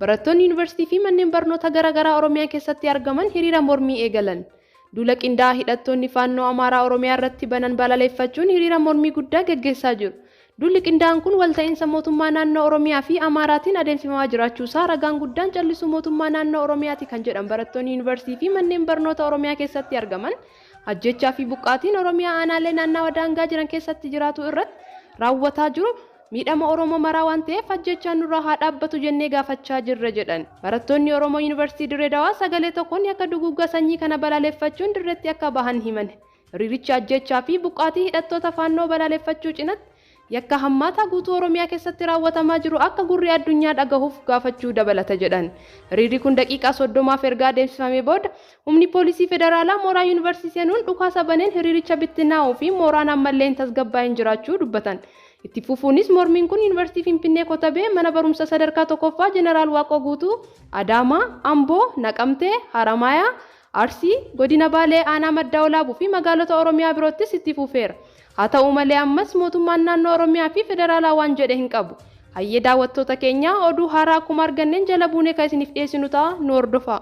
Barattoonni yuunivarsiitii fi manneen barnoota garaagaraa Oromiyaa keessatti argaman hiriira mormii eegalan. Duula qindaa'aa hidhattoonni faannoo Amaaraa Oromiyaa irratti banan balaleeffachuun hiriira mormii guddaa gaggeessaa jiru. Duulli qindaa'aan kun walta'iinsa mootummaa naannoo Oromiyaa fi Amaaraatiin adeemsifamaa jiraachuu isaa ragaan guddaan callisuu mootummaa naannoo Oromiyaati kan jedhan barattoonni Yuunivarsiitii fi manneen barnoota Oromiyaa keessatti argaman, ajjeechaa fi buqqaatiin Oromiyaa aanaalee naannawa daangaa jiran keessatti jiraatuu irratti raawwataa jiru miidhama Oromoo maraa waan ta'eef ajjeechaan nurraa haa dhaabbatu jennee gaafachaa jirra jedhan. Barattoonni Oromoo Yuunivarsiitii Dirree Dawaa sagalee tokkoon yakka duguuggaa sanyii kana balaaleffachuun dirreetti akka bahan himan. Hiriirichi ajjeechaa fi buqqaatii hidhattoota Faannoo balaaleffachuu cinatti, yakka hammaataa guutuu Oromiyaa keessatti raawwatamaa jiru akka gurri addunyaa dhagahuuf gaafachuu dabalata jedhan. Hiriirri kun daqiiqaa 30f erga adeemsifamee booda, humni poolisii federaalaa mooraa Yuunivarsiitii seenuun dhukaasa baneen hiriiricha bittinaa'uu fi mooraan ammallee hin tasgabbaa'in jiraachuu dubbatan. Itti fufuunis mormiin kun Yuunivarsiitii Finfinnee Kotabee, Mana Barumsa Sadarkaa 1ffaa Jeneraal Waaqoo Guutuu, Adaamaa, Amboo, Naqamtee, Haramaayaa, Arsii, Godina Baalee Aanaa Maddaa Walaabuu fi magaalota Oromiyaa biroottis itti fufeera. Haa ta'uu malee ammas mootummaan naannoo Oromiyaa fi federaalaa waan jedhe hin qabu. Hayyee daawwattoota keenya oduu haaraa akkuma arganneen jala buunee kan isiniif dhiyeessinu ta'a nu hordofaa.